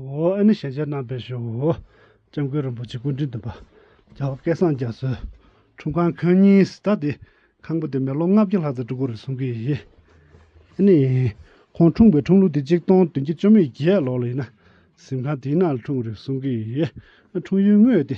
ཨོ་ཨེ་ནི་ཞལ་མཇལ་གནང་བས་ཞུ། ྋསྐྱབས་མགོན་རིན་པོ་ཆེ་སྐུ་དྲིན་དུ་འབར། རྒྱལ་བ་སྐལ་བཟང་རྒྱ་མཚོའི་ཁྲུམས་ཁང་ཁང་རྙིང་སྟ་སྟེ། ཁང་བུ་དེ་མི་ལོ་ལྔ་བརྒྱ་ལྷག་ཙམ་འགྲོ་དགོས་རེད་གསུང་གི་ཡིན། ཨེ་ནི། ཁོང་འཁྲུངས་པའི་འཁྲུངས་ལུགས་དེ་གཅིག་སྟོང་དོན་བརྒྱད་བཅོ་མེད་བརྒྱད་ལོར་ལ་ཡིན། གཟིམ་ཁང་དེའི་ནང་ལ་འཁྲུངས་རེད་གསུང་གི་ཡིན། འཁྲུངས་ཡུལ་དངོས་དེ།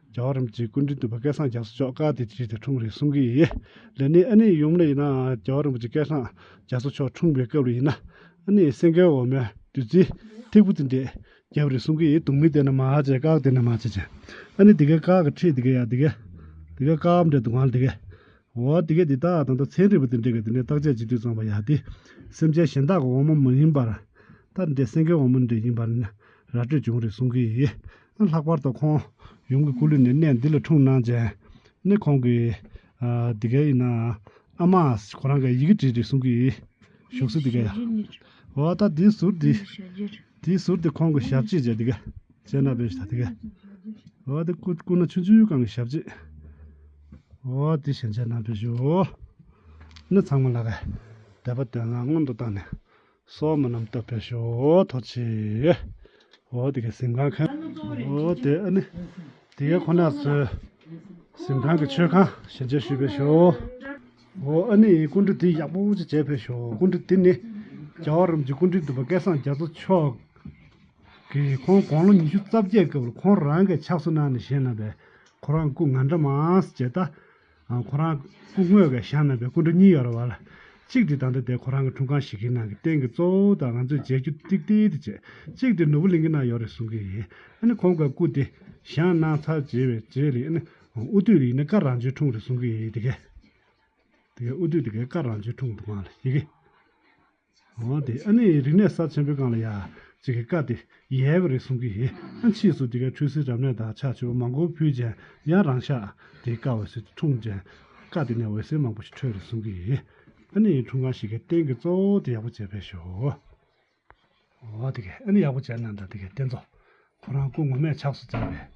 རྒྱལ་བ་རིན་པོ་ཆེའི་སྐུ་མདུན་དུ་བོད་སྐད་སངས་རྒྱས་སུ་ཆོག་དཀའ་དེ་བྱས་ཏེ་འཁྲུངས་རེད་གསུང་གི་ཡིན། ལས་ནི་ཨ་ནེའི་ཡུམ་ལ་ཡིན་ནའང་རྒྱལ་བ་རིན་པོ་ཆེ་སྐད་སངས་རྒྱས་སུ་ཆོག་འཁྲུངས་པའི་སྐབས་ལ་ཡིན་ན། ཨ་ནེའི་སེང་གེ་འོ་མའི་བདུད་རྩི་ཐིགས་པོ་དེ་འདེགས་རྒྱབ་རེད་གསུང་གི་ཡིན། དུག་མི་དེ་ནི་མ་བྱེད་བཀག་དེ་ནི་མ་བྱེད་ཅིང། ཨ་ནེ་དེ་གའི་བཀག་གི་ཁྲིད་དེ་གའི་ཡ་དེ་གའི། དེ་གའི་བཀག་འབྲས་དུག་ལྔ་དེ་གའི། འོ་དེ་གའི་དེ་དག་དང་དུག་ཚན་རིལ་བུ་དེ་འདྲེས་ཀྱི་དེ་ནས་བརྟག་དཔྱད་ཅི་དུས་གཙང་པ་ཡ་དེ། སེམས་ཅན་གཞན་དག་གི་འོ་མ་མི་ཡིན་པར། ལྟར་འདྲེས་སེང་གེའི་འོ་མ་འདྲེས་ཡིན་པར་ནི་ར་སྤྲོད་བྱུང་རེད་གསུང་གི་ཡིན། ནི་ལྷག་པར་དུ་ཁོང་ཡུམ་གྱི་སྐུ་ལུས་ནི་གནས་འདི་ལ་འཁྲུངས་གནང་རྗེས་ནི་ཁོང་གིས། འདི་གའི་ཡིན་ནའང་ཨ་མ་ཁོ་རང་གི་ཡི་གེ་བྲིས་ཏེ་གསུང་གི་ཡིན། བཞུགས་སྲོལ་འདི་གའི་ཡོད། འོ་ད་དེའི་ཟུར་དེ། དེའི་ཟུར་དེ་ཁོང་གི་ཞབས་རྗེས་བཅས་འདི་གའི་སྤྱན་སྔར་སྦས་ཞེས་དང་འདི་གའི། འོ་དེ་སྐུ་སྐུ་ན་ཆུང་ཆུང་གང་གི་ཞབས་རྗེས། འོ་དེ་ཞལ་མཇལ་གནང་སྤེལ་ཞུ། ནི་ཚང་མ་ལ་གའི་དད་པ་དོན་ལ་སྔོན་དུ་བཏང་ནས་སོགས་མི་རྣམས་བསྟོད་པའི་ཞོ་ཐོ་ཆེ། འོ་དེ་གའི་གཟིམས་ཁང་ཁ། འོ་དེ་ཨ་ནི་དེ་ག་ཁོ་ན་ཚོའི། གཟིམས་ཁང་གི་མཆོད་ཁང་ཞལ་མཇལ་ཞུས་པའི་ཞོ། འོ་ཨ་ནི་སྐུ་མགྲོན་དེ་ཡག་པོ་ཅིག་བྱས་པའི་ཞོ་སྐུ་མགྲོན་དེ་ནི། རྒྱ་བོད་རིམ་གྱི་སྐུ་མགྲོན་བདུན་པ་སྐལ་བཟང་རྒྱ་མཚོ་མཆོག་གིས་ཁོང་དགོང་ལོ་ཉི་ཤུ་རྩ་བརྒྱད་སྐབས་ཁོང་རང་གིས་ཕྱག་བཟོ་གནང་ནས་བཞེངས་གནང་བའི་ཁོ་རང་སྐུ་ང་འདྲ་མང་བྱས་སྟབས། ཁོ་རང་སྐུ་དངོས་ཀྱི་ཞབས་ནང་པའི་སྐུ་མགྲོན་གཉིས་ཡོད་རེད་བ་ལ། གཅིག་དེ་ད་ལྟ་དེ་ཁོ་རང་གི་དྲུང་ཁང་ཞིག་གི་ནང་གི་སྟེང་གི་གཙོ་བོ་དང་ང་ཚོས་མཇལ་རྒྱུ་ཏིག་ཏིག་དེ་བྱེད། གཅིག་དེ་ནོར་བུ་གླིང་གི་ནང་ཡོད་རེད་གསུང་གི་ཡིན། ཨ་ནི་ཁོང་གི་སྐུ་དེ་ཞབས་ནང་ཚར་བཅད་པའི་རྗེས་ལས་ཨ་ནི་དབུ་སྟོད་རིག་གནས་སྐར་རང་བྱོན་འཁྲུངས་རེད་གསུང་གི་ཡིན། དེ་གའི་དེ་གའི་དབུ་སྟོད་དེ་གའི་སྐར་རང་བྱོན་འཁྲུངས་འདུག་མ་ཡི་གེ། འོ་དེ་ཨ་ནི་རིག་གནས་ཟབ་ཆེན་པོའི་སྒང་ལ་ཡ། ཅིག་གི་བཀའ་དེ་ཡལ་བ་རེད་གསུང་གི་ཡིན། ཨ་མཆིས་སུ་དེ་གའི་འཕྲུལ་སེལ་རབ་གནས་དང་ཕྱག་མཆོད་པ་མང་པོ་ཕུལ་ཅན་ཡང་རང་ཤག་དེའི་བཀའ་འོད་ཟེར་དུ་འཁྲུངས་ཅན། བཀའ་དེ་ནས་འོད་ཟེར་མང་པོ་ཞིག་འཕྲོས་རེད་གསུང་གི་ཡིན། ཨ་ནི་འཁྲུངས་ཁང་ཞིག་གི་རྟེན་གྱི་གཙོ་བོ་དེ་ཡག་པོ་བྱས་པས་ཤོག། འོ་དེ་གས་ཨ་ནི་ཡག་པོ་བྱས་ན་འདྲ་དེ་གའི་རྟེན་གཙོ་ཁོ་རང་སྐུ་ངོ་མས་ཆགས་སུ་བཙལ་བས།